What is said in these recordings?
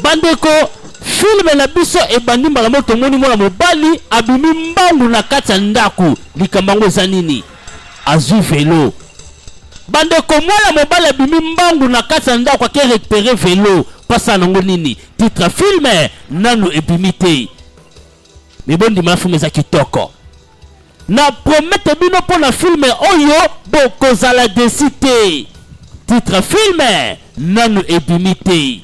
bandeko filme na biso ebandi mbala moko tomoni mwana mobali abimi mbangu na kati ya ndako likambo yango eza nini azwi velo bandeko mwana mobali abimi mbangu na kati ya ndako ake rekupere velo mpasa nango nini titre filme nanu ebimi te mibondima ya filme eza kitoko Na promete bino mpo na filme oyo bokozala desi te. Titre filme nanu ebimi te.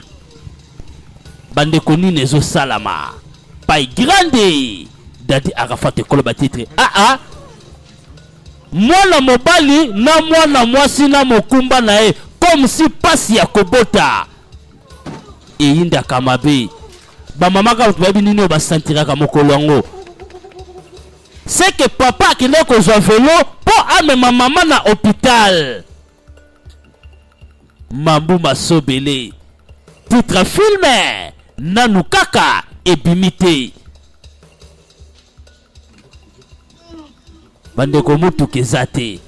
Bandeko nini ezosalama? Pai grande dadi Arafat ekolo ba titre aa ah, ah. mwana mobali na mwana mwasi na mokumba na ye comme si pasi ya kobota eyindaka mabe bamama kaka bayebi nini oyo basantiraka mokolo yango seke papa akendaki kozwa velo mpo amema mama na hôpital mambu masobele titre filme nanu kaka ebimi te bandeko motuka eza te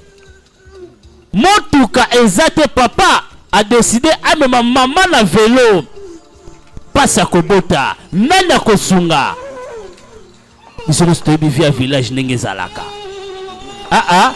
motuka eza te papa adeside amema mama na velo mpasi akobota nani akosunga biso nyonso toyebi via village ndenge ezalaka aa ah, ah.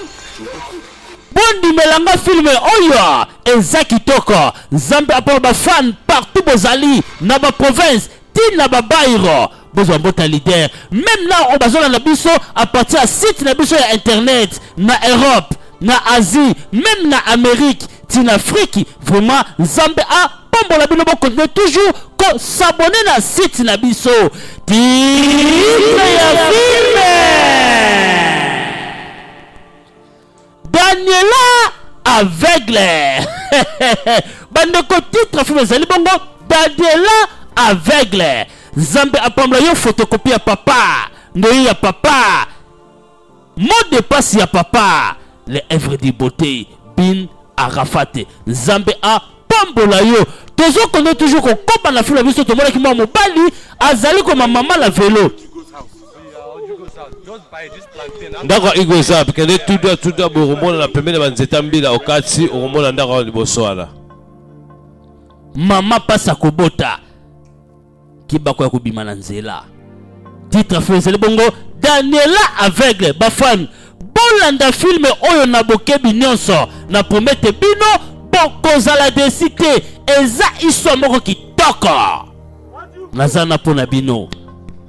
bondimela nga filme oyo eza kitoko nzambe apona bafane partout bozali na baprovince ti na ba bairo bozwa mbota leader meme na oyo bazolanda biso a partir ya site na biso ya internet na europe na asie meme na amerique ti na afrique vraiment nzambe a pambola bino bokontinue toujours kosabone na site na biso titre ya filme daniela aveugle bandeko titre film ezali bongo daniela aveugle nzambe apambola yo fotokopi ya papa ndoyi ya papa mot de passe ya papa le evre du beauté bin arafate nzambe apambola yo tozokende toujours kokoba na filo na biso tomonaki mwa mobali azali koma mama na velo ndako ya igo eza wapi kende tuda tuda bokomona na pembeni ya banzete ya mbila okati okomona ndako wana liboso wana mama mpasi akobota kibako ya kobima na nzela titre fo ezali bongo daniela aveugle bafani bolanda filme oyo na bokebi nyonso na promete bino bokozala desi te eza histoire moko kitoko naza na mpo na bino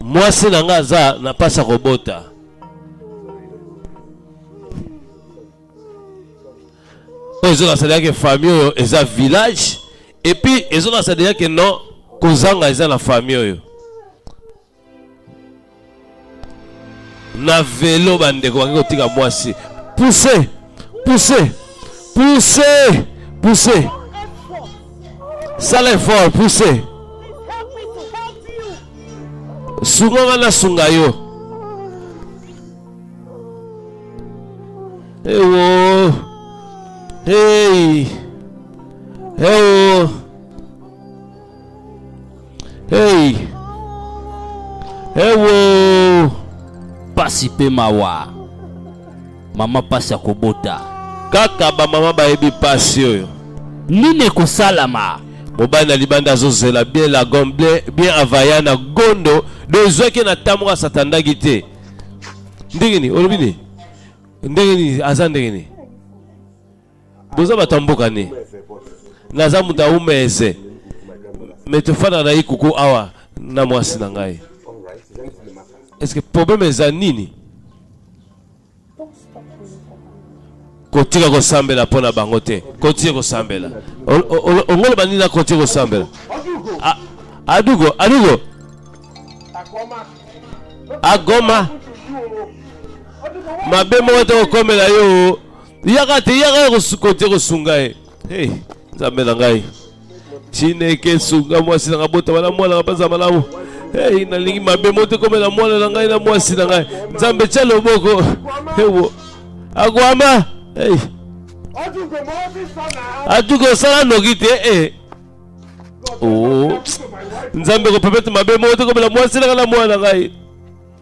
mwasi na nga aza na mpasi ya kobota oyo ezokasa deja ke famille oyo eza village epuis ezokasa deja ke non kozanga eza na famille oyo na velo bandeko bake kotika mwasi puse puse puse puse sala effort pousse sunga nga nasunga yo ewo hey. ewo Hey! Ewo! Eh pasi pe mawa. Mama pasi ya kobota. Kaka ba mama bayebi pasi oyo. Nini ekosalama? mobali na libanda azozela bien la gomble bien avaya na gondo do ezwaki na ntango moko asatandaki te ndenge nini olobi nini ndenge nini aza ndenge nini boza bato ya mboka nini naza moto ya umeze me tofanda na ikuku awa na mwasi na ngai eske probleme eza nini kotika kosambela mpo na bango te kotie kosambela ongoloba nini na kotie kosambela adugo adugo agoma mabe moko te kokomela yo yaka te yaka ya kosukote kosunga ye hey, nzambe na ngai chineke sunga mwasi na ngai botama na mwana ngai mpenza malamu hey, nalingi mabe moto ekomela mwana na ngai na mwasi na ngai nzambe tya loboko ewo akwama hey. atuki osala noki te eh. oh. nzambe kopepete mabe moto ekomela mwasi na ngai na mwana na ngai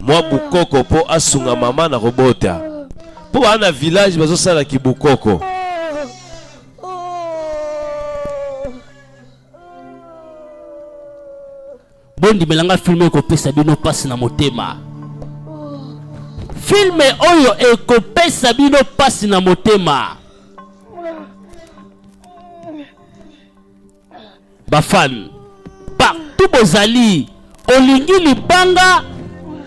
mwa bukoko po asunga mama na kobota po baa na village bazosala kibukoko bondimela nga filme ekopesa bino mpasi na motema filme oyo ekopesa bino mpasi na motema ba fan partout bozali olingi libanga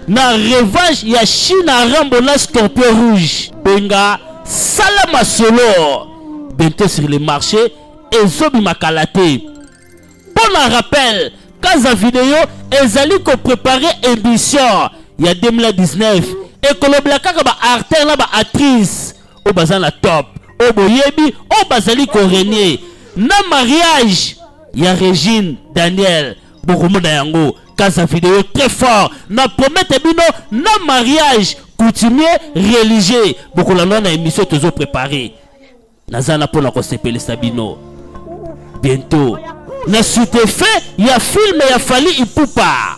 na revanche ya china rambo na scorpion rouge benga sala masolo bientôt sur le marché ezobimaka la te mpo na rappel kaza video ezali koprepare émission ya 2019 ekolobela kaka baartère na baactrice oyo baza na top oyo boyebi oyo bazali korenye na mariage ya regine daniel bokomona yango kasa video très fort na promete bino na mariage coutumier religieux bokolanda na émission tozo préparé naza na mpona kosepelisa bino bientôt na sutefin ya filme ya fali ipupa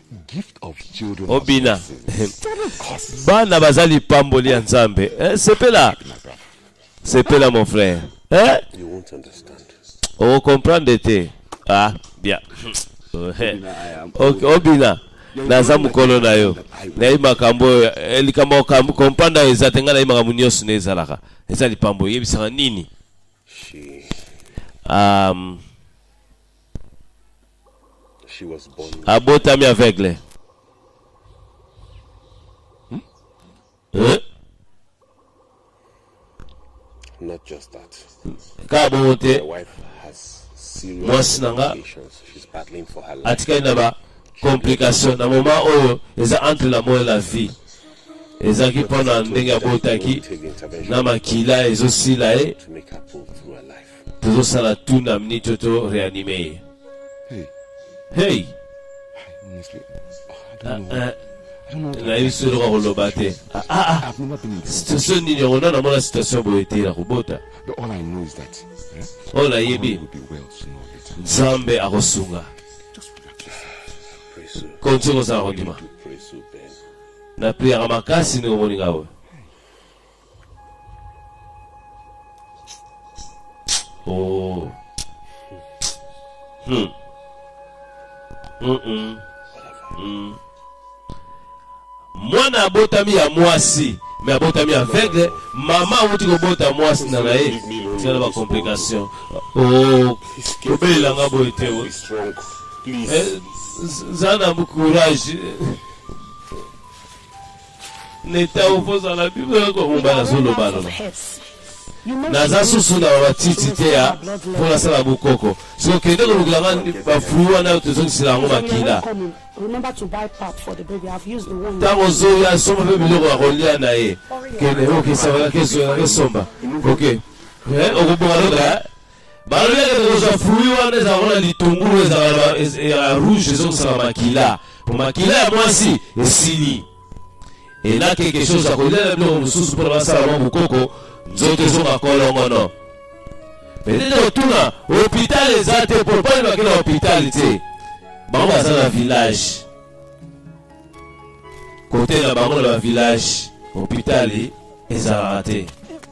obina bana baza lipamboli ya nzambe eh, sepela sepela mon frère eh? okomprendre te ah bien eh. obina naza mokolo na yo nayebi makambo oyo eh, likambo kompanda oyo eza te ngai nayebi makambo nyonso na ezalaka eza lipambo oyebisaka nini um, abotami aveugle hmm? eh? Not just that. Kaka bongo te. Mwasi na nga atikali na ba complication na moment oyo eza entre la mort et la vie ezalaki mpo na ndenge abotaki na makila ezosila ye tozosala tout na minute oyo to reanime ye hey nayebi soki eloko akoloba te situation nini yango nano amona situation boye te na kobota oyo nayebi nzambe akosunga konti kozala kondima na priere makasi ndenge omoni ngai oyo Oh. Hmm. Mm -mm. Mm. mwana abotami ya mwasi me abotami aveugle mama awuti kobota mwasi na na ye tina na bacomplication oh, obelela nga boye te eh, zana courage Leta opozala bible yako mumba na zolo balo naza susu na bamatiti te ya mpo nasala bokoko soki okende kolukela nga bafui wana tozongisela yango makila ntango ozoi asomba mpe biloko ya kolia na ye kende okisaka kesomba oke eh, okobonga loka balobi ete tokozwa fruit wana ezala wana litungulu ezala ya rouge ezongisaka makila po makila ya mwasi esili ena quelque chose akolia na biloko mosusu mpona basala mwa mokoko nzoto ezonga kolongono petete otuna hopital eza te po mpani bakenda hopital te bango baza na village kote na bango na bavillage hopitali ezalaka te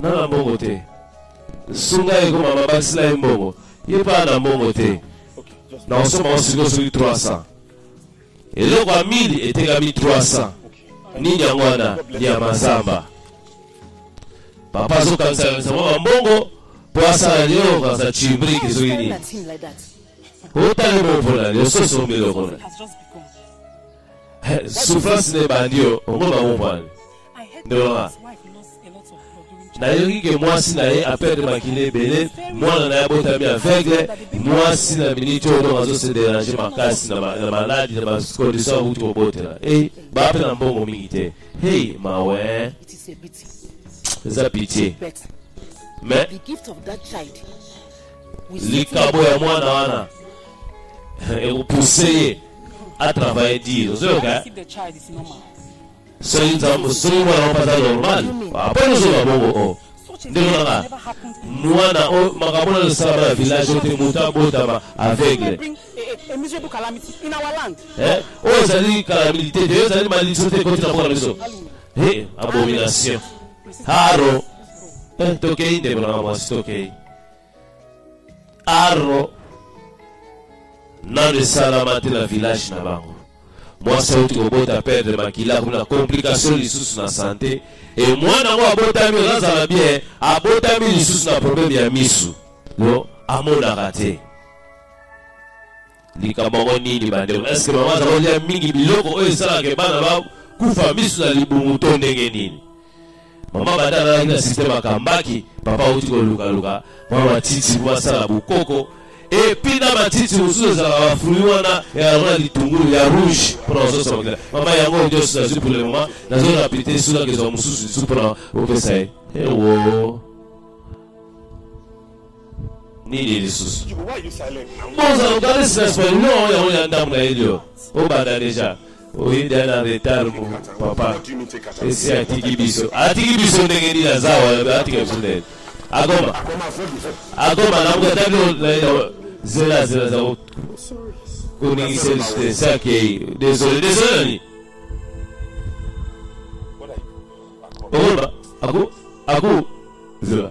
na na mbongo te sunga ye koma mabakisi na ye mbongo ye mpe na mbongo te na kosomba ngo sikoyo soki 300 eloko ya mili etekami 300 nini yango wana ya mazamba papa azokangisakanisa mwa bambongo mpo asala lio kanisa cibriki soki nini otali mopola lio sosi omilokona souffrance na ebandi yo ongo bango mpani ndolonga nayoki ke mwasi na ye aperdre makila ebele mwana na ye abotami aveugle mwasi na miniti oyo donc azo se derange makasi na ma- na maladi na bacondition akuti kobotela e bape na mbongo mingi te hei mawe It is a pity. eza pitie But mais the gift of that child will certainly likabo ya mwana wana ekopuse ye atravaille dire ozoyoka eh? if the child is normal. Soki nzambe soki mwana moko aza normal aponi ah, ozonga bongo o oh. ndeko nanga mwana oyo oh, makambo na losala bana village oyo te moto abotama aveugle oyo ezali kalamilite te oyo ezali malediction te ekoti na mpo na biso abomination haro eh, tokei ndeko nanga mwasi tokei aro nanu esalama te na village na bango mwasi auti kobota perdre makila kuna complication lisusu na sante e mwana yango abotami ozazala bien abotami lisusu na probleme ya misu no amonaka te Likambo yango nini bandeko? Eske mama aza kolia mingi biloko oyo esalaka bana ba kufa misu na libumu to ndenge nini? Mama banda alalaki na systeme akambaki, papa auti kolukaluka mwa matiti mwa asala bokoko epi na matiti mosusu ezalaka bafrui wana yango na litungulu ya rouge mpona kososa makila mama yango nyonso nazwi pour le moment nazwi na pite soki akezwa mosusu lisusu mpona kopesa ye ewo nini lisusu bozala kokanisi na sport no yango ya ndambo na elio obanda deja oyinda na retard mu papa esi atiki biso atiki biso ndenge nini aza wana atika biso ndenge akoma akoma namukataki zela zela za koningisa biso te esi akei desole desole nani okoloba aku aku zela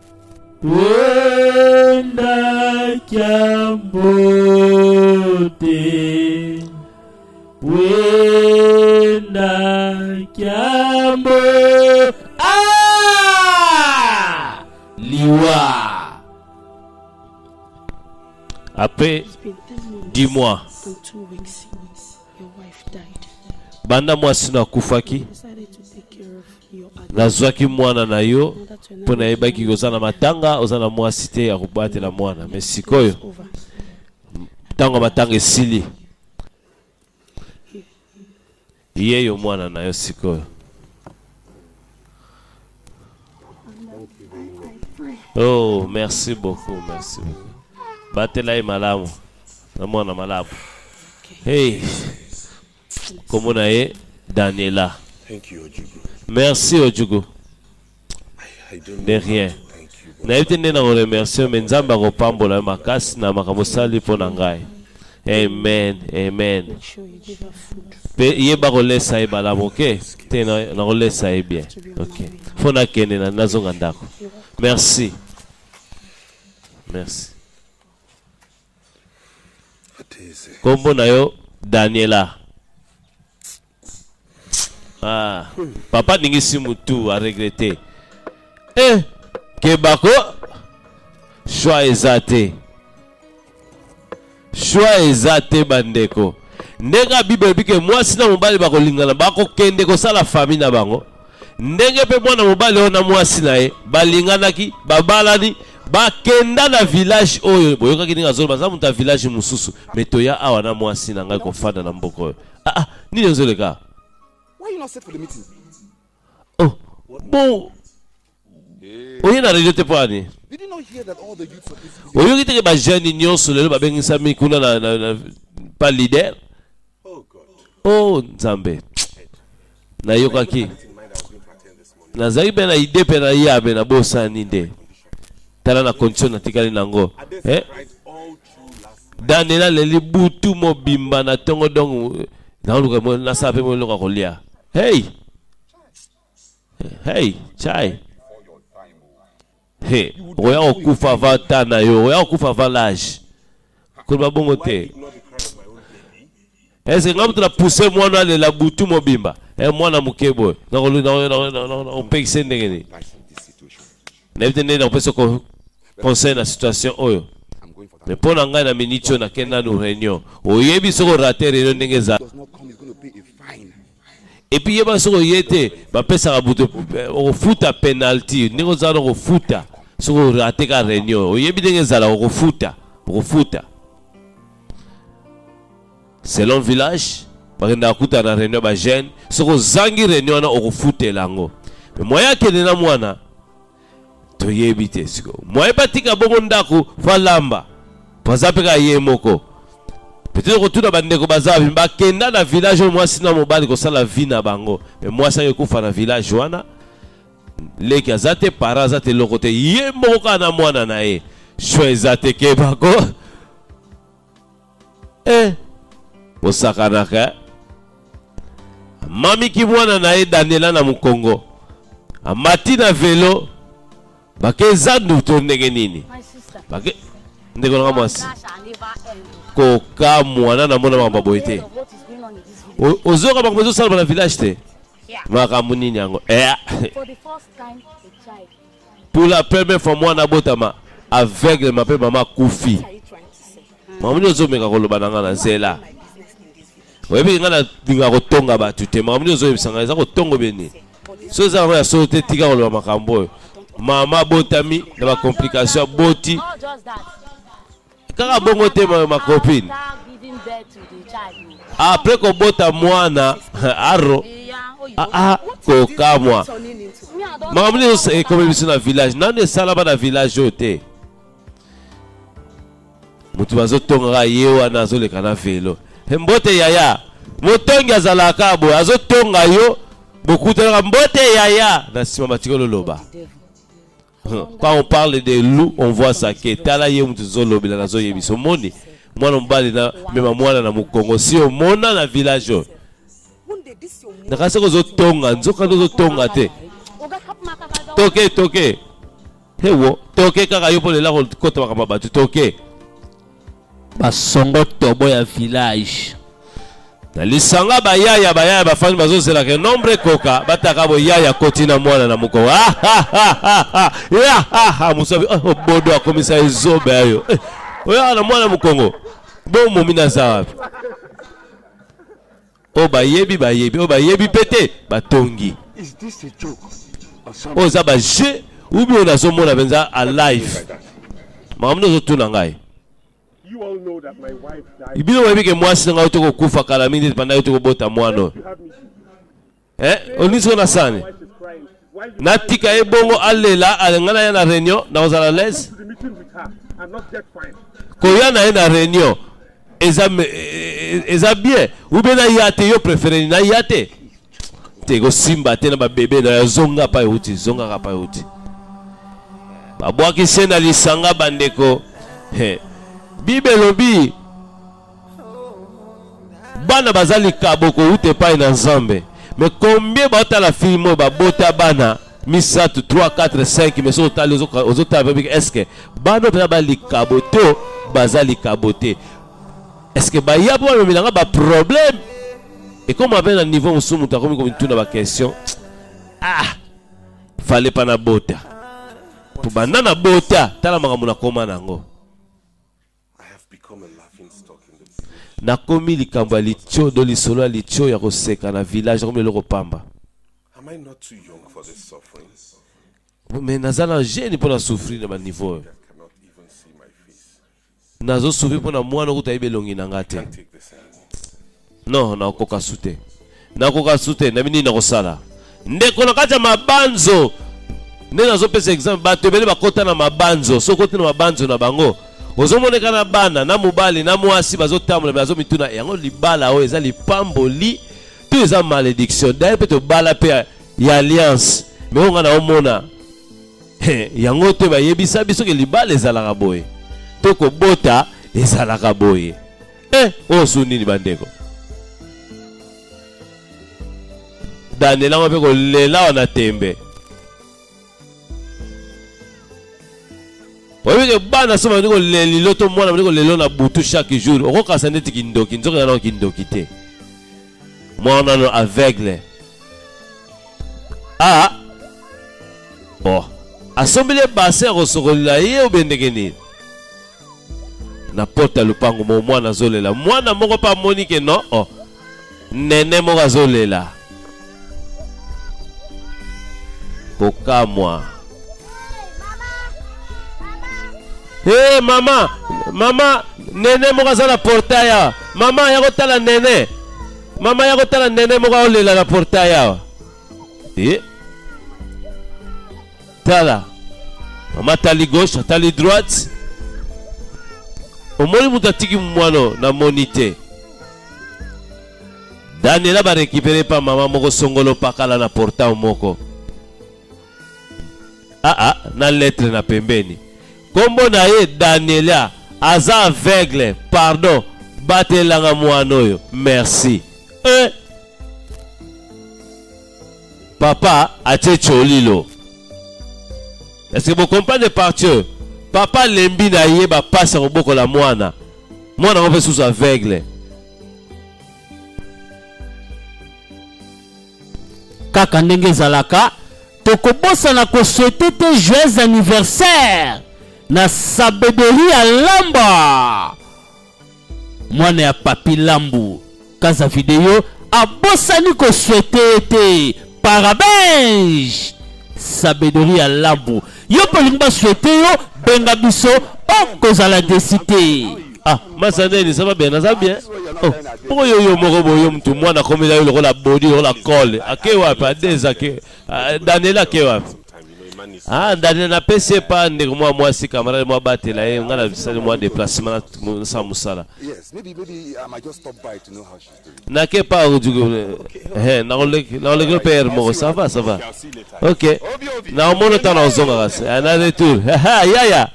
Wenda kiambote Wenda kiambo Ah Liwa Après dis-moi Banda mwasi na kufaki nazwaki mwana na yo mpo nayebaki oza na matanga oza na mwasi te ya kobatela mwana me sikoyo ntango ya matanga esili ye yo mwana na yo sikoyo oh merci beaucoup merci beaucoup batela ye malamu na mwana malamu hey Comment na ye Daniela. Thank you Ojugu. Merci Ojugu. De rien. nayebi te nde na koremercie me nzambe akopambola yo makasi na makambo osali mpo na ngai amen amen mpe yeba kolesa ye balamu oke te nakolesa ye bien oke mpo nakende na nazonga ndako merci merci Kombo na yo Daniela. Ah, papa ningisi mutu a regretter. Eh, kebako choix eza te. Choix eza te bandeko. Ndenge Bible elobi ke mwasi na mobali bakolingana, bakokende kosala famille na bango. Ndenge mpe mwana mobali oyo na mwasi na ye balinganaki, babalani, bakenda na village oyo boyokaki ndenge azoloba aza moto ya village mosusu me toya awa na mwasi na ngai kofanda na mboka oyo ah, ah, nini ozoleka oh, bon oye na radio te mpo ani oyoki teke bajeune nyonso lelo babengisami kuna na, na, na, pa leader Oh Nzambe, nayokaki nazalaki mpe na ide mpe na yabe na bosani nde tala na condition natikali nango eh? dane naleli butu mobimba na ntongo dongo naoluka nasala mpe moloko ya kolia hey hey chai He, okoya kokufa avant temps na yo, okoya kokufa avant l'âge. Koloba bongo te. Est-ce que nga mutu na pousser mwana alela butu mobimba? Eh mwana moke boye. Na kopekise ndenge nini? Nayebi te ndenge nakopesa conseil na situation oyo. Mais mpo na ngai na miniti oyo nakenda nanu réunion. Oyebi soki orate réunion ndenge ezala. Et puis yeba soko yete ba pesa ka buto eh, o futa penalty ndenge za ko futa soko rate ka reunion o yebi ndenge zala ko futa ko futa selon village ba kenda kuta na reunion ba jeune soko zangi reunion na o futela ngo moya kende na mwana toyebi te sikoyo mwaye batika bongo ndako fo alamba po aza mpe kaka ye moko petete kotuna bandeko baza wapi bakenda na village oyo mwasi na mobali kosala vie na bango me mwasi yango ekufa na village wana leki aza te para aza te eloko te ye moko kaka na mwana na ye sho eza te kebako eh bosakanaka eh? mami kimwana na ye daniela na mokongo amati na velo bake eza nduto ndenge nini bake ndeko nanga mwasi kokamwa na namona makambo boye te ozoyoka makambo ezosalama na village te makambo nini yango eh. Pour la première fois mwana abotama aveugle ma pe mama akufi. Makambo nini ozomeka koloba na ngai na zela? Oyebi ngai nalinga kotonga bato te. Makambo nini ozoyebisa ngai eza kotongo bie nini? So eza yango ya solo te tika koloba makambo oyo. Mama abotami na bacomplication aboti kaka bongo te mayo ma copine apres kobota mwana aro ah, ah, kokamwa makambo nyonso ekomi biso na village nani esalama na village oyo te motu bazotongaka ye wana azoleka na velo mbote yaya motongi azalaka boye azotonga yo bokutanaka mbote yaya na nsima batikolo loba Quand on parle de loup, on voit ça que tala ye mutu zolobela na zoyebiso moni mwana mobali na mema mwana na mukongo si omona na village oyo nakasi kozotonga nzoka nde ozotonga te toke toke hewo toke kaka yo mpo lela kokota makambo ya bato toke basongo tobo ya village na lisanga bayaya bayaya bafandi bazozelaka enombre ekoka bataka boyaya koti na mwana na moko ah, ah, ah, mosabi oh, obodo akomisa ezobe yayo eh, oyaka na mwana mokongo bomomi naza wapi oyo bayebi bayebi oyo bayebi mpe te batongi oyo eza bajeu ubi oyo nazomona mpenza a live makambo nde ozotuna ngai bino boyebi ke mwasi na ngai ote kokufa kala mingi te epandaki te kobota mwana oyo eh, olisi na sani natika ye bongo alela alinga na ye na réunion nakozala lese koya na ye na réunion eza, e, e, eza bien ube naya te yo préféré naya te te ekosimba te na babebe na yo zonga pa euti zongaka pa euti babwakisi ye na lisanga bandeko bible elobi bana baza likabo kowuta epai na nzambe me combien baotala film oyo babota bana misato 3 4 5 me soki otali ozotala mpe biki eske bana oyo mpenza balikabo to baza likabo te eske baya mpo bamemela nga baproblème ekoma mpe na niveau mosusu moto akomi komituna baquestion ah fale mpa na bota mpo banda na bota tala makambo nakoma na yango Nakomi likambo ya litio do lisolo ya litio ya koseka na village, nakomi eloko pamba. Mais naza na jeune mpo na souffrir na ba niveau oyo. Nazo souffrir mpo na mwana kutu ayebi elongi na nga te. Non, nakoka su te. Nakoka su te, nayebi nini nakosala. Ndeko na kati ya mabanzo nde nazopesa exemple bato ebele bakota na mabanzo soki okoti na mabanzo na bango ozomoneka na bana na mobali na mwasi bazotambola me azomituna yango libala oyo eza lipamboli to eza malediction daye mpe tobala mpe ya alliance me oyo ngai naomona yango te bayebisa biso ke libala ezalaka boye to kobota ezalaka boye eh oyo su nini bandeko daniel yango mpe kolela wana tembe oyebike bana so bandi kolelilo to mwana bandi kolelo na butu chaque jour okokasa ndeti kindoki nzoki nanao kindoki te mwana no aveugle a ah. bon asombeli ye basin akosokolela ye obendeke nini na porte ya lopango moko mwana azolela mwana moko mpe amoni ke no oh, nene moko azolela kokamwa e hey, mama mama nene moko aza na portail awa mama ya kotala nene mama ya kotala nene moko aolela na portail awa e eh? tala mama atali gauche atali droite omoni moto atiki mwana namoni te daniela barekipere mpa mama moko songolo pakala na portau moko aa ah, ah, na letre na pembeni nkombo na ye daniela aza aveugle pardon batelanga mwana oyo merci eh. papa atie tsholilo est ce que bocomprendre partie papa alembi na ye bapasi ya kobokola mwana mwana yango mpe susu aveugle kaka ndenge ezalaka tokobosana koswete te joyeux anniversaire na sabederi ya lamba mwana ya papi lambu kaza video abosani koswete ye te parabenge sabedori ya lambu yo mpe olingi baswete yo benga biso okozala desi te ah mazaneni ça va bien naza bien oh pourquoi yo yo moko boye yo mutu mwana akomela yo lokola body lokola kole ake wapi adeza ke ah, daniela ake wapi Ah, ndani na pesi epa ndeko mwa mwasi kamarade mwa batela ye ngai nabisali mwa deplacement nasala mosala nake pa nakolekelo mpe ere moko sava sava ok nakomono ntango nakozonga kasi eh, na retour yaya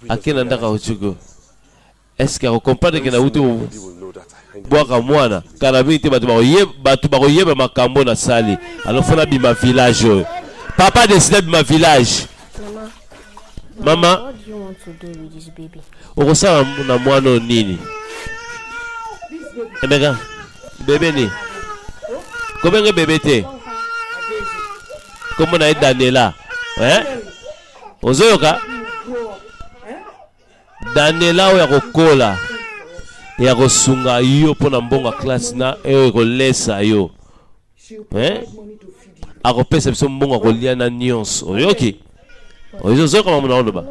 akenda ndako ya ojugo Est ce que ako comprendre que nawuti bwaka mwana kala mingi te bato bakoyeba makambo na sali alors fona bima village oyo papa deside bima village mama okosala na mwana oyo nini emeka bebe nini kobenge bebe te kombo na ye daniela eh? ozoyoka Daniela oyo akokola ya kosunga yo mpo na mbongo ya klase na oyo ekolesa yo eh? akopesa biso mbongo ya kolia na nyonso oyoki ozozoka mamu na oloba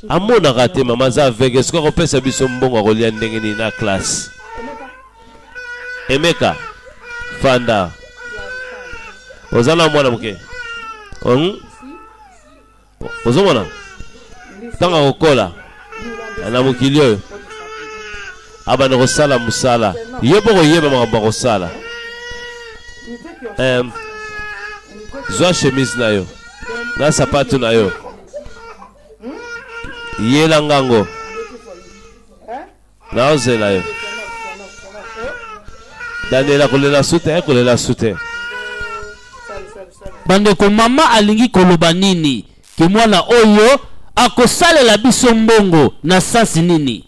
amonaka te mama aza aveugle soki akopesa biso mbongo akolia ndenge nini na classe emeka fanda oza na mwana moke hmm? ozomona ntango akokola na mokili oyo abanda kosala mosala ye mpo koyeba makambo akosala um, zwa chemise na yo na sapatu na yo yela ngango naozela yo daniela kolela su te kolela su te bandeko mama alingi koloba nini ke mwana oyo akosalela biso mbongo na sansi nini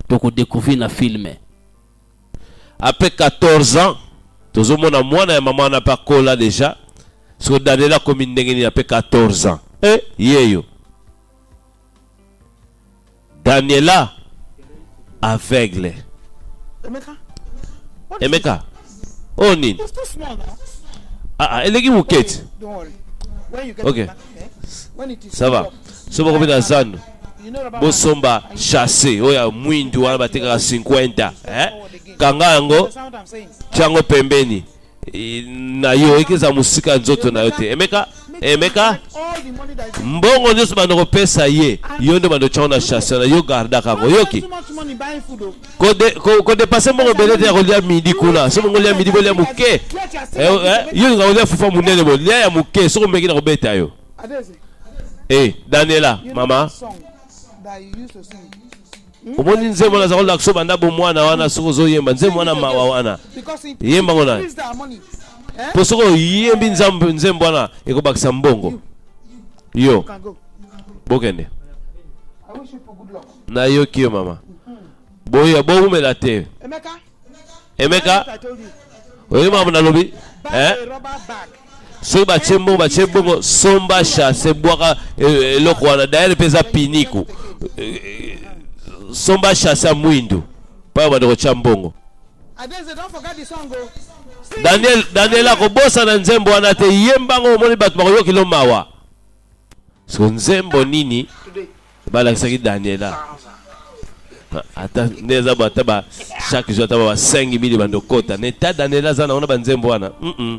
tokodecouvrir na filme apres 14 ans tozomona mwana ya mama wana mpe akola deja soko daniela akomi ndenge nini apres 14 ans e eh, yeyo Daniela aveugle. Emeka. Emeka. Oh nini? Ah, ah eleki moketi. Ok. Ça va. Soki bakobeta zando bosomba chasse oyo ya mwindu wana batekaka 50 eh? kanga yango tyango pembeni na yo eke eza mosika ya nzoto na yo te emeka emeka mbongo nyonso bando kopesa ye yo nde bando otyango na chasse na yo gardaka yango oyoki kodepase mbongo ebele te ya kolya midi kuna soki bongo olya midi bolya moke eh, eh, yo olinga kolya fufa monene bolya ya moke soki omeki na kobeta yo e daniela mama omoni nzembo naza kolakisa banda bomwana wana soki ozoyemba nzembo wana mawa wana yemba ngo naye mpo soki oyembi nzembo wana ekobakisa mbongo yo bokende nayoki yo mama boya bowumela te emeka oyebi makambo nalobi eh? soki batye mbongo batye mbongo somba chasse ebwaka e, e, eloko wana dayere mpe eza piniku e, somba chasse ya mwindu mpaya bande kotya mbongo daniel daniel akobosana nzembo wana te yembango omoni bato bakoyokilo mawa so nzembo nini Balakisaki Daniela. Ata nde eza ba ata ba chaque jour ata ba 5000 bando kota. Ne ta Daniela zana ona banzembo wana. Mm. -mm.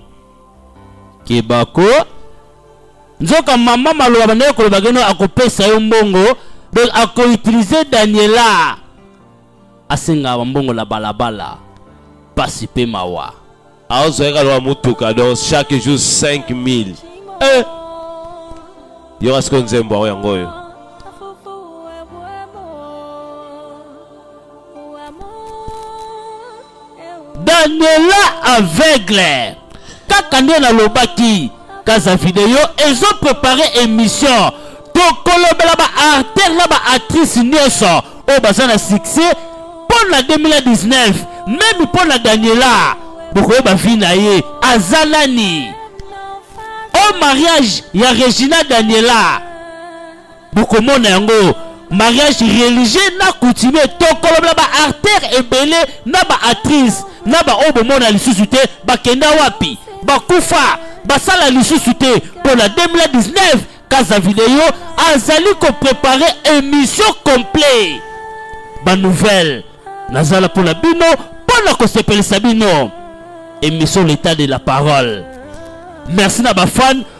Kebako nzoka mama maloba bandaki koloba keno akopesa yo mbongo donc akoutilize daniela asengaka bambongo na balabala mpasi mpe mawa azo yaka lwa mutuka donc chaque jour 5000 eh yoka siko nzembo yango yango oyo daniela aveugle kaka nde nalobaki kaza video ezo prepare émission tokolobela ba artère na ba actrice nyonso oyo baza na succès mpo na 2019 meme mpo na daniela bokoyeba vi na ye aza nani o mariage ya regina daniela bokomona yango mariage religieux na coutumier tokolobela ba artère ebele na ba actrice na baoyo bomona lisusu te bakenda wapi bakufa basala lisusu te mpo na 2019 kaza video azali koprepare émission complet banouvelle nazala mpo na bino mpo na kosepelisa bino émission l'état de la parole merci na bafane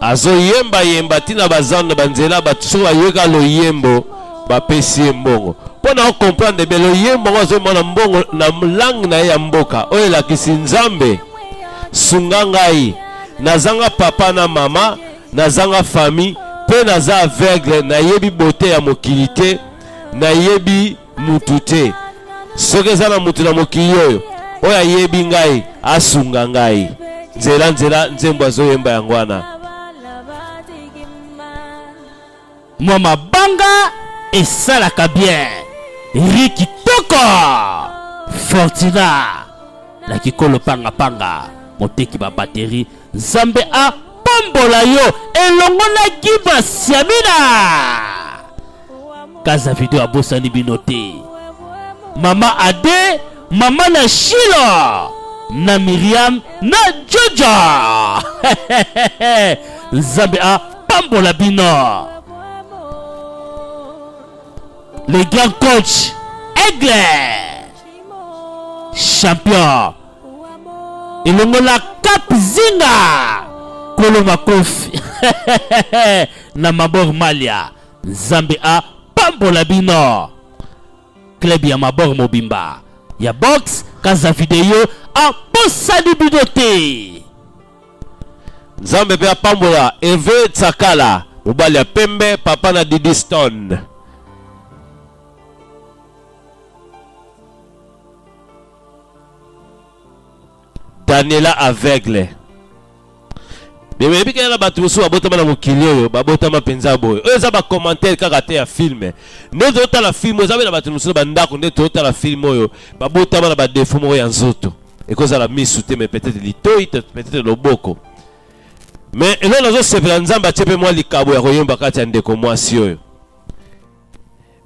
azoyemba yemba ntina bazando banzela bato soki bayoka loyembo bapesi ye mbongo mpo na okomprendre be loyembo yango azomona mbongo na langue na ye ya mboka oyo elakisi nzambe sunga ngai nazanga papa na mama nazanga famille mpe naza aveugle nayebi bote ya mokili te nayebi mutu te soki eza na mutu na mokili oyo oyo ayebi ngai asunga ngai nzela nzela nzembo azoyemba yango wana mwa mabanga esalaka bien ri kitoko fortina na kikolo pangapanga moteki babateri nzambe apambola yo elongo na gibas yamina kaza video abosani bino te mama ade mama na shila na miriam na joja nzambe apambola bino le grand coach aigle champion elongola cap zinga kolo makofi na mabor malia Nzambe a pambola bino. Club ya mabor mobimba ya box kaza video a posani bino te. Nzambe pe apambola Eve Tsakala mobali ya pembe papa na Didi Stone. Daniela aveugle. Mais oyebi kaka na bato mosusu babotama na mokili oyo babotama mpenza boye oyo eza bacommentaire kaka te ya filme nde totala filme eza mpe na bato mosusu bandako nde totala filme oyo babotama na badefo moko ya nzoto ekozala misu te mais peut-être litoi peut-être loboko mais eloko nazosepela nzambe atie mpe mwa likabo ya koyemba kati ya ndeko mwasi oyo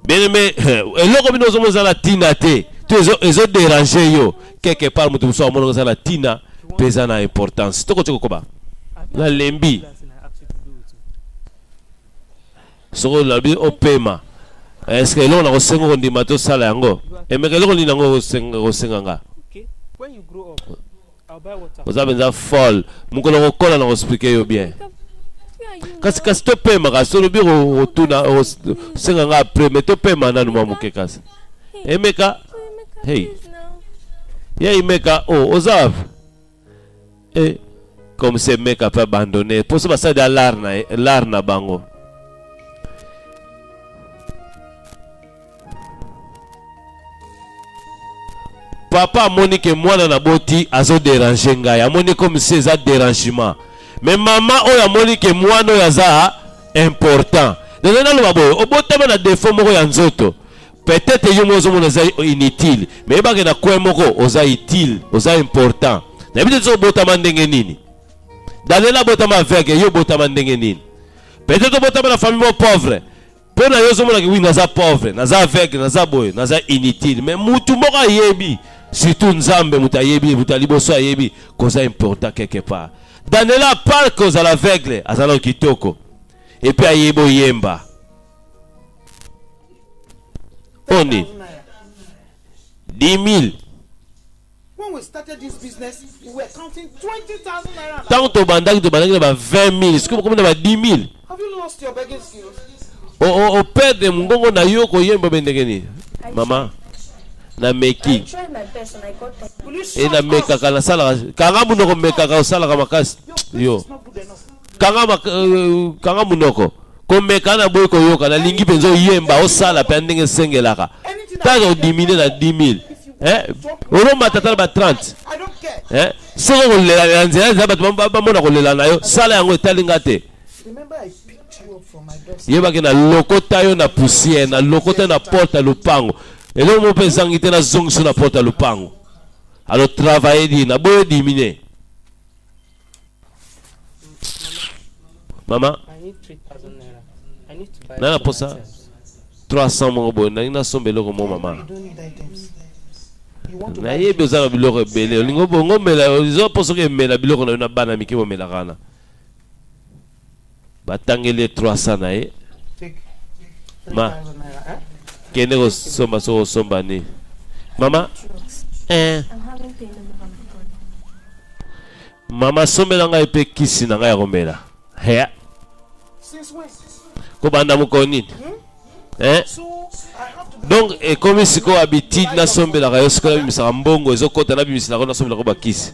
Bien aimé, eloko bino ozomo eza na tina te. To ezo ezo déranger yo quelque part mutu musu amono eza na tina pe eza na importance. Toko toko koba. Na lembi. Soko labi opema. Est-ce que eloko na kosenga kondima to sala yango? Emeka eloko nini yango osenga osenga nga? oza mpenza folle mokolo kokola na koexplike yo bien kasi kasi topema kasi olobi otuna osenga nga apres me topema nanu mwa moke kasi emeka hey ya imeka o oh, oza wapi e eh, comme se meka mpe abandonne mposo basali alar na bango papa amoni ke mwana na boti azo derange ngai amoni comme si eza derangement mais mama oyo amoni ke mwana oyo aza important naza naloba boye obotama na defo moko ya nzoto peut-être yo moko ozomona eza inutile mais yebake na coin moko oza utile oza important nayebi te biso obotama ndenge nini daniel abotama aveugle yo obotama ndenge nini peut-être obotama na famille moko pauvre mpo na yo ozomonaki wi naza pauvre naza aveugle naza boye naza inutile mais mutu moko ayebi surtout nzambe moto ayebi moto ya liboso ayebi koza important quelque part danela park kozala aveugle aza na kitoko epuis ayebi oyemba oni 10 000 ntango tobandaki tobandaki na ba 20 000 soki bokomi na ba 10 000 operde mongongo na yo koyemba be ndenge nini mama nameki e namekaka nasalaka kanga munoko mekaka osalaka makasi yo kanga, mak- euh, kanga munoko komeka na boyi koyoka nalingi mpenza oyemba osala mpe ndenge esengelaka ntango odimine na 10000 eh? olomata ata na ba 30 eh? soki okolela na nzela nzela bato bam- bamona kolela na yo sala yango etali nga te yebaki na lokota yo na poussière na lokota yo na porte ya lopango eloko moko mpe ezangi te nazongisi yo na porte ya lopango alors travaille di na boyo dimine mama na na posa 300 moko boye nalingi nasomba eloko mo mama nayebi oza na biloko ebele olingi obongo omela oza mpo soki emela biloko na yo na bana mike bomelaka wana batangeli ye 300 na ye ma kende kosomba soki osomba nini mama eh. mama sombela ngai mpe kisi na ngai ya komela hea kobanda mokolo nini hmm? eh? donc ekomi sikoyo abitide nasombelaka yo sikoyo nabimisaka mbongo ezokota nabimiselaka yo nasombelaka bakisi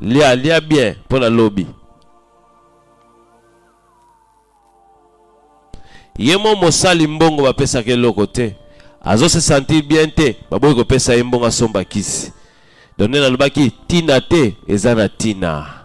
Lia, lia bien mpo na lobi. Ye mo mosali mbongo bapesaka eloko te, azo se sentir bien te, baboyi kopesa ye mbongo asomba kisi. Donc nde nalobaki tina te eza na tina.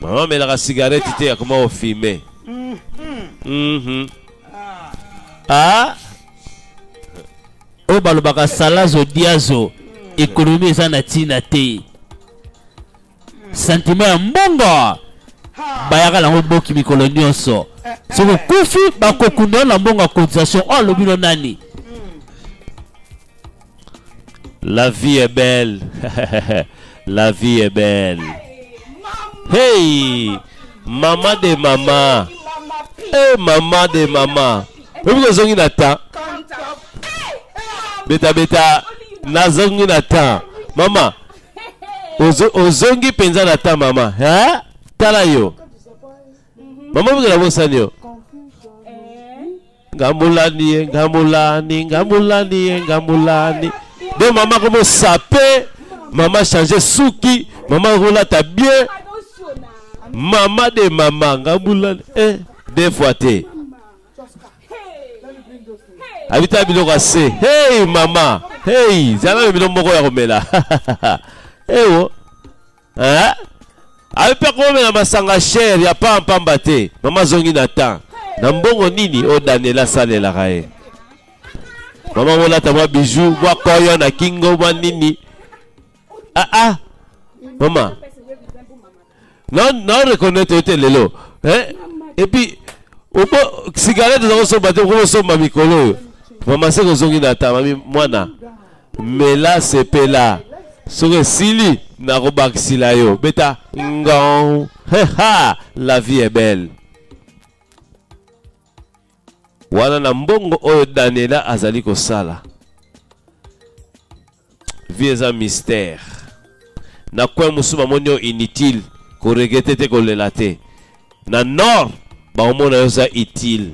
Maman melaka cigarette te akoma ko fumer. Mhm. Ah. Oyo balobaka salazo diazo ekonomi eza na ntina te santima ya mbongo bayaka nango boki mikolo nyonso soki okufi bakokunda yo na mbongo ya cotisation oyo alobi no nani La vie est belle. La vie est belle. Hey, maman de maman. Hey, maman de maman. Oyebi kozongi na temps. Beta beta nazongi na temps. Mama, ozongi mpenza na temps mama. Hein? Tala yo. mama bikela bosani yo ngamulani ye ngamulani ngamulani ye ngamulani de mama komo sape mama change suki mama kolata bien mama de mama ngamulani eh, de fois te abita biloko ya se hey mama hey zala na bino moko ya komela ewo Eh? ayo mpe akomela masanga shere ya paa mpamba te mama azongi na temps na mbongo nini oyo daniel asalelaka ye mama molata mwa biju mwa koyo na kingo mwa nini aa ah, ah. mama na reconnaître yo te lelo eh? epuis cigarette oza kosomba te okosomba mikolo oyo mama se kozongi na temps mami mwana mela sepela soki esili nakobakisila yo beta ngong heha la vie est belle wana na mbongo oyo daniela azali kosala vie eza mystère na coin mosusu bamoni yo inutile koregrete te kolela te na nord bakomona yo oza utile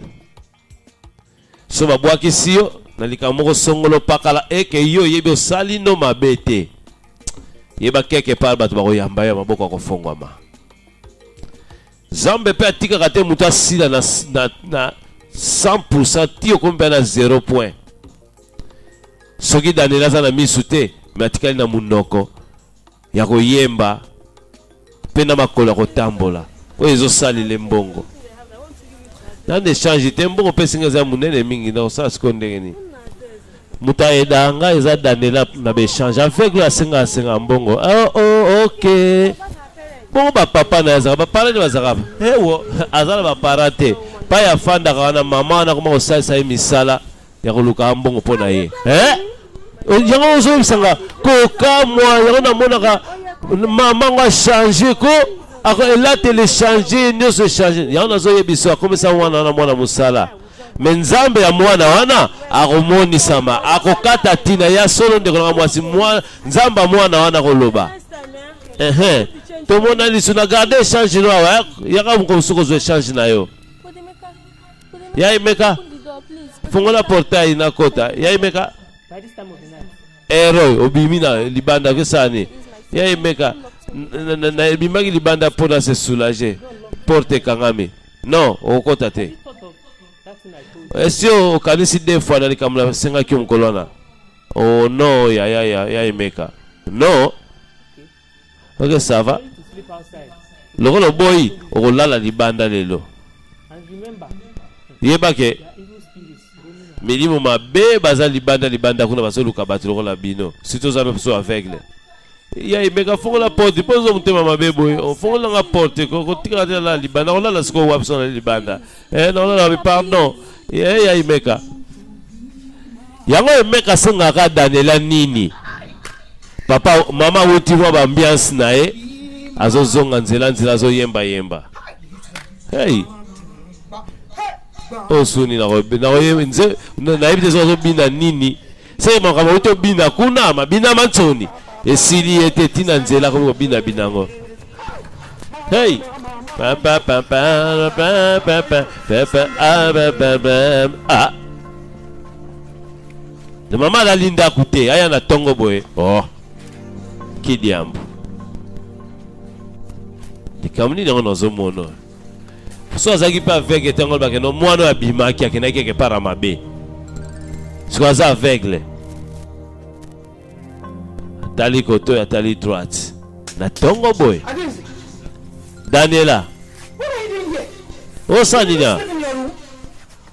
so babwakisi yo na likambo moko songolo pakala eke yo oyebi osali no mabe te yeba keke pale bato bakoyamba yo maboko akofongwama nzambe mpe atikaka te moto asila na, na, na 100 ti okomi mpe na 0 point soki danela aza na miso te me atikali na monoko ya koyemba mpe na makolo ya kotambola oyo ezosalele mbongo nani echange te mbongo mpe esinga eza monene mingi na kosala sikoyo ndenge nini moto ayedaka ngai eza danela na baechange aveugle asenga asenga mbongo oh, oh, ok bongo bapapa na ye azalaka bapara nde bazalaka ewo aza na bapara te pai afandaka wana mama wana akoma kosalisa ye misala ya koluka mbongo mpo na ye eh? yango ozongisa nga kokamwa yango namonaka mama ngo achange ko elateli echange nyonso echange yango nazoyebisa akomisa mwana wana mwana mosala me nzambe ya mwana wana akomonisama akokata ntina ya solo ndeko nanga mwasi nzambe ya mwana wana akoloba ehe tomona lisu na garde echange no awa yaka mokomosu kozwa echange na yo Ya Emeka, fungola portail na kota. Ya Emeka. Eroy, eh, obimi na libanda kesani. Ya Emeka, na ebimaki libanda mpo na se soulager. Porte ekangami. Non, okokota te. Esi okanisi deux fois na likambo nasengaki yo mokolo wana. Oh non, ya ya ya ya Emeka. Non. ok ça va lokola oboyi okolala libanda lelo yeba ke milimo mabe baza libanda libanda kuna bazoluka bato lokola bino surtout oza mpe so aveugle ya imeka fongola porte mpo ozo motema mabe boye ofongolanga porte kotikala te nalala libanda kolala sikoyo wapi so nali libanda eh non non pardon eh ya imeka yango emeka asengaka daniela nini papa mama awuti mwa baambiance na ye azozonga nzela nzela azoyemba yemba hey. osuni nayebi te soki azobina nini se makambo uti obina kuna mabina ma nsoni esili ye te ntina nzela akomi kobinabina yango hey ah. na mama alali ndako te aya na ntongo boye oh. kidiambo likambo nini yango nazomona so azalaki mpe aveugle te yango bakende mwana oyo abimaki akendaki quelque part ya mabe sikoyo aza aveugle atali koto oyo atali droite na ntongo boye daniela osala nini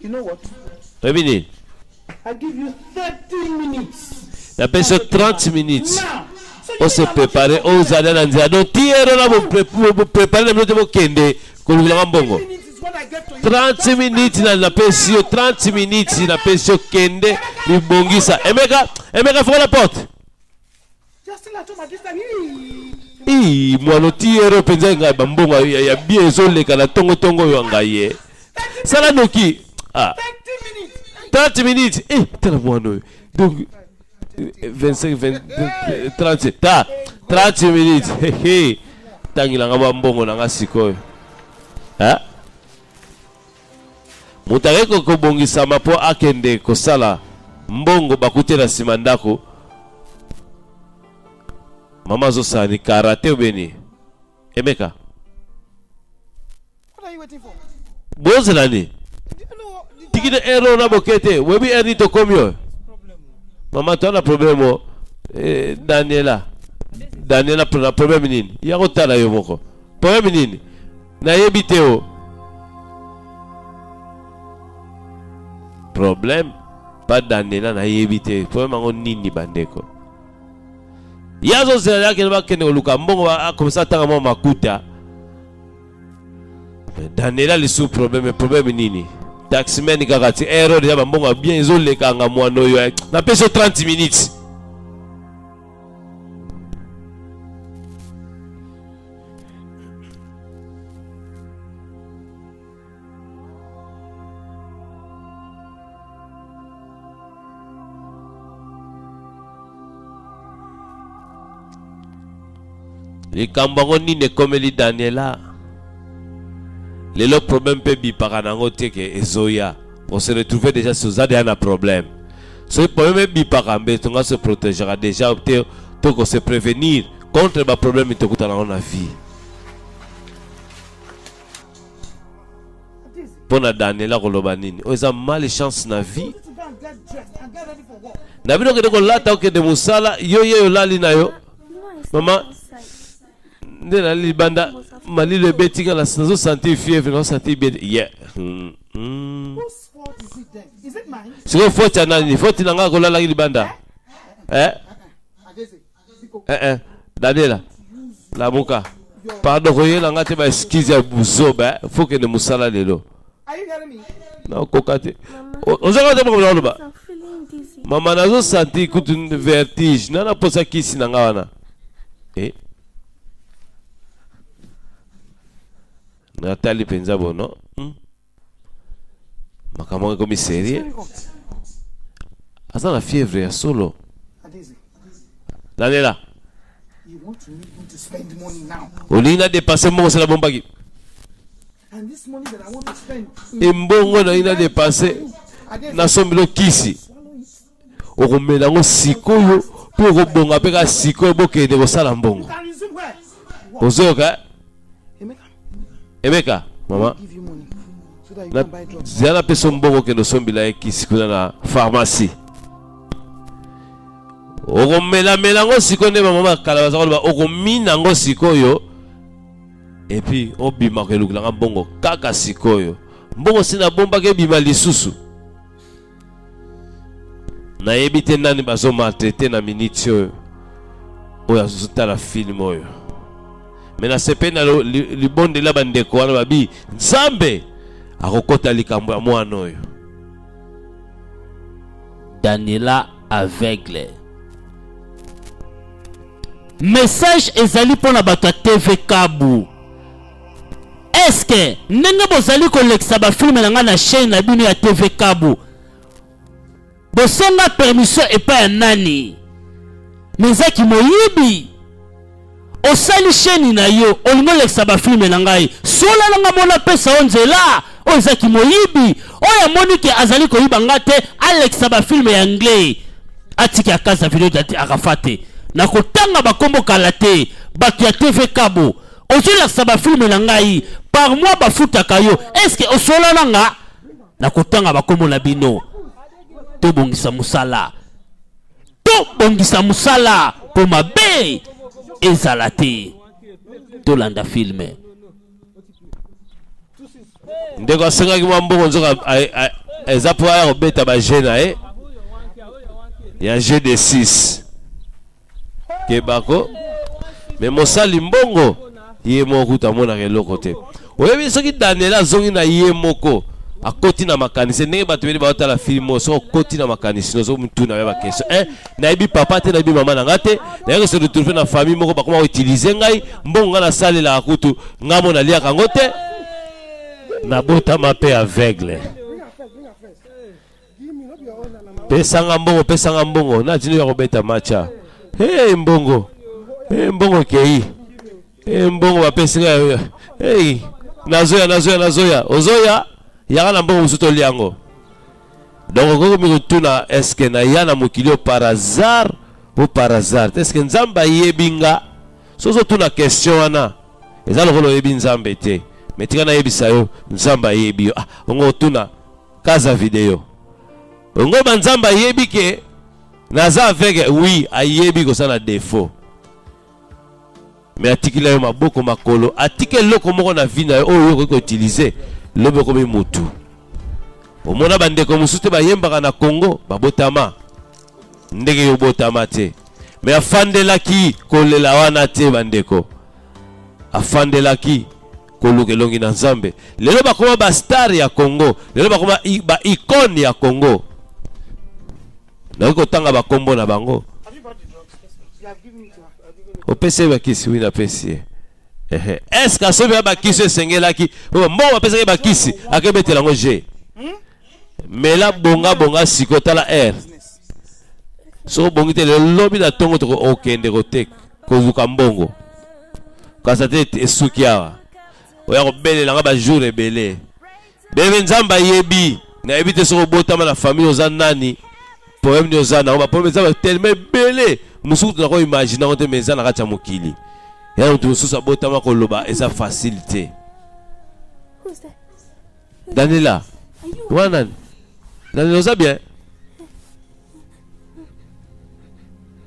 You know what? Oyebi nini? I give you 30 minutes. Napesi yo 30 minutes. Now, ose prepare ozala na nzela donc ti ere wana boprepare na bino te bokende kolobelaka mbongo 30 minutes na napesi yo 30 minutes napesi yo kende libongisa emeka emeka fokola porte ii mwano tiyero mpenza engai bambongo ya bie ezoleka na tongo tongo oyo ya ngai ye sala noki ah. 30 minutes eh, tala mwano oyo donc 25 20, 30 ta 30 minutes hehe tangilanga bambongo na nga sikoyo eh? Moto aye ko kobongisama mpo akende kosala mbongo bakute na nsima ndako. Mama azosala ni karate obeni emeka bozela ni tikide ere oyo na boke te oyebi ere nini tokomi oyo mama to na probleme o eh, daniela daniela na probleme nini ya kotala yo moko probleme nini nayebi te o problème pa danela nayebi te problème yango nini bandeko ye azozela akende bakende koluka mbongo akomisa atanga mwa makuta danela lisusu problème problème nini taximene kaka ti ero deja bambongo ya bien ezolekanga mwana oyo eh. napesi yo 30 minutes likambo yango nini ekomeli daniela lelo problème mpe bipaka na yango te ke ezoya on se retrouve déjà si oza deya na problème soki problème ebipaka mbe tonga se protegera déjà te toko se prévenir contre ba problème tokuta nango na vie mpo na daniela koloba nini oyo eza male chance na vie na bino okende kolata okende mosala yo ye olali na yo mama nde nali libanda malilo ebeti nga nazo sentir fievre nazo sentir bien ye hmm, hmm. sikoyo foti ya nani foti na ngai kolalaki libanda eh? eh eh Daniela lamuka pardon koyela nga te ba excuse ya buzoba eh. faut kende mosala lelo nakoka te ozaka te makambo nakoloba mama nazo santi kutu vertige na naposa kisi na nga wana eh. natali mpenza bono hmm? makambo yango ekomi serie aza na fièvre ya solo lalela olingi na dépense moko osala bombaki embongo nalingi na dépense nasombelo kisi okomela yango sikoyo mpe okobonga mpe kaka sikoyo bokende kosala mbongo ozoyoka eh? emeka mama zela napesa mbongo okende osombela ye kisi kuna na pharmacie okomelamela yango sikoyo nde bamama ya kala baza koloba okomina yango sikoyo epuis obimaka elukela nga mbongo kaka sikoyo mbongo si nabombaki ebima lisusu nayebi te nani bazo maltraite na miniti oyo oyo azotala filme oyo me nasepeli na libondela bandeko wana babi nzambe akokota likambo ya mwana oyo daniela aveugle message ezali mpo na bato ya tv kabu Est-ce que ndenge bozali kolekisa ba film na ngai na chaîne na bino ya TV Kabu bosenga permission epai ya nani? Mais eza kimoyibi. Osali chaîne na yo olingi olekisa ba film na ngai sola na ngai mona pesa yo nzela oyo eza kimoyibi oyo amoni ke azali koyiba ngai te alekisa ba film ya anglais atiki akasa video dati akafa te nakotanga bakombo kala te bato ya TV Kabu ozolakisa bafilme na ngai par mois bafutaka yo eske osola na nga na kotanga bakombo na bino tobongisa mosala tobongisa mosala mpo mabe ezala te tolanda filme ndeko asengaki mwa mbongo nzoka eza mpo aya kobeta baje na ye ya g de 6 kebako me mosali mbongo ye moko kutu amonaka eloko te oyebi soki daniel azongi na ye moko akoti na makanisi ndenge bato bele baotala filme oyo soki okoti na makanisi nozo motuna ya bakestion e eh, nayebi papa te nayebi mama na ngai te nayaki se retrouve na famille moko bakoma koutilize ngai mbongo ngai nasalelaka kutu ngai mo naliaka yango te nabotama mpe aveugle Pesa nga mbongo, pesa nga mbongo. Na tino ya kobeta matcha. Hey, mbongo. Hey, mbongo kei. Hey, mbongo bapesi nga. Hey, nazoya, nazoya, nazoya. Ozoya, yaka na mbongo mosusu tolia yango. Donc okomi kotuna eske naya na mokili oyo par hasard ou par hasard te? Eske Nzambe ayebi nga? So ozotuna question wana eza lokola oyebi Nzambe te. Mais tika nayebisa yo Nzambe ayebi yo. Ah, ongo otuna Kaza video. Ngo banzamba yebi ke naza aveugle oui ayebi kosala défaut mais atikila yo maboko makolo atiki eloko moko na vie na yo oyo okoki koutilize lobi okomi mutu omona bandeko mosusu te bayembaka na congo babotama ndenge yo obotama te me afandelaki kolela wana te bandeko afandelaki koluka elongi na nzambe lelo bakoma ba star ya congo lelo bakoma ba icone ya congo nakoki kotanga bakombo na bango opesi ye bakisi wi napesi ye eske asobi ya bakisi esengelaki mbongo bapesaki bakisi akebetela yango je mela bonga bonga siko tala air soki obongi te lelo lobi na ntongo okende koteka kozuka mbongo kasa te esuki awa oya kobelela nga bajour ebele bebe nzambe ayebi nayebi te soki obotama na famille oza nani problème nini oza nango baproblème eza tellement ebele mosusu kutu nako imagine yango te mais eza na kati ya mokili ya moto mosusu abotama koloba eza facile te Daniela, wana nani? Daniela, oza bien?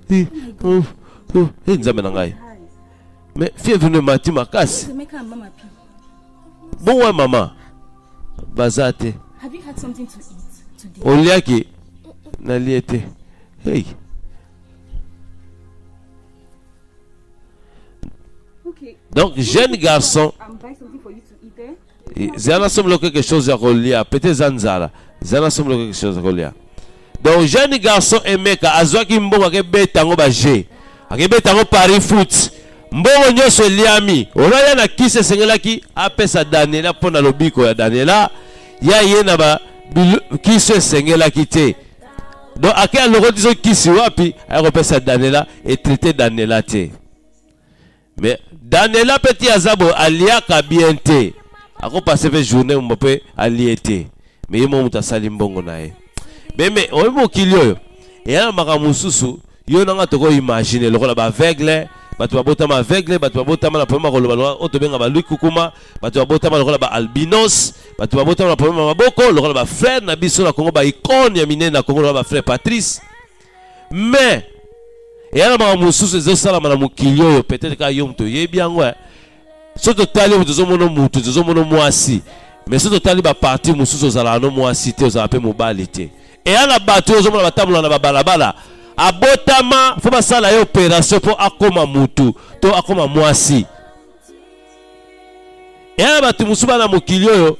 Hi, oh, oh, hey, nzambe na ngai. Mais fièvre ne mati makasi. Bon, ouais, maman. Baza te. Oliaki, nalie te. Hey. Donc, jeune garçon. zana somlo quelque chose ya kolia peut-être eza nzala zana somlo quelque chose ya kolia donc jeune garçon emeka azwaki mbongo akebeta yango baje akebeta yango paris foot mbongo nyonso eliami olaya na kisi esengelaki apesa daniela mpo na lobiko ya daniela ya ye na ba kisi esengelaki te donc ake alokoti so kisi wapi ayakopesa daniela etraite daniela te mais daniela mpe ti aza boye aliaka bien te akopase mpe journée mbo mpe alie te mais ye moko moto asali mbongo na ye meme oyebi mokili oyo eya na makambo mosusu yo na ngai tokoimagine lokola baaveugle bato babotama aveugle bato babotama na problème ya koloba lokola oyo tobenga balui kukuma bato babotama lokola baalbinos bato babotama na problème ya maboko lokola bafrère na biso na kongo baicone ya minene na kongo lokola bafrère patrice mais eya na makambo mosusu ezosalama na mokili oyo peut-être kaka yo moto oyebi yango eh. so totali oyo tozomona motu tozomona mwasi mais so totali baparti mosusu ozalaka no mwasi te ozalaka mpe mobali te eya na bato oyo ozomona batambola na babalabala abotama fo basala ye operation mpo akoma motu to akoma mwasi eya na bato mosusu bana mokili oyo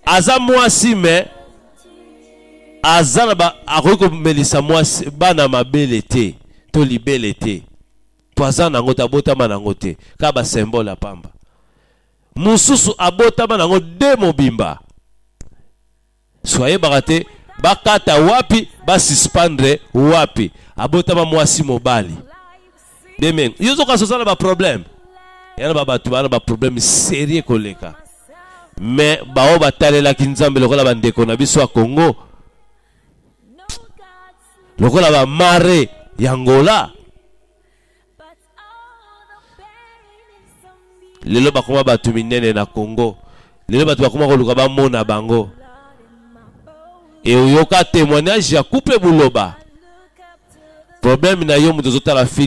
aza mwasi mais aza na ba akoki komelisa mwasi bana mabele te to libele te mpo aza na yango te abotama na yango te kaka basimbole ya pamba mosusu abotama na yango de mobimba so ayebaka te bakata wapi basuspendre wapi abotama mwasi mobali deme yo ozokanisa oza na baproblème ya na babato baa na baproblème serie koleka me baoyo batalelaki nzambe lokola bandeko na biso ya congo lokola bamare ya ngola lelo bakoma bato minene na congo lelo bato bakoma koluka bamona bango eoyoka témoignage ya couple buloba problème na yo moto ozotala fil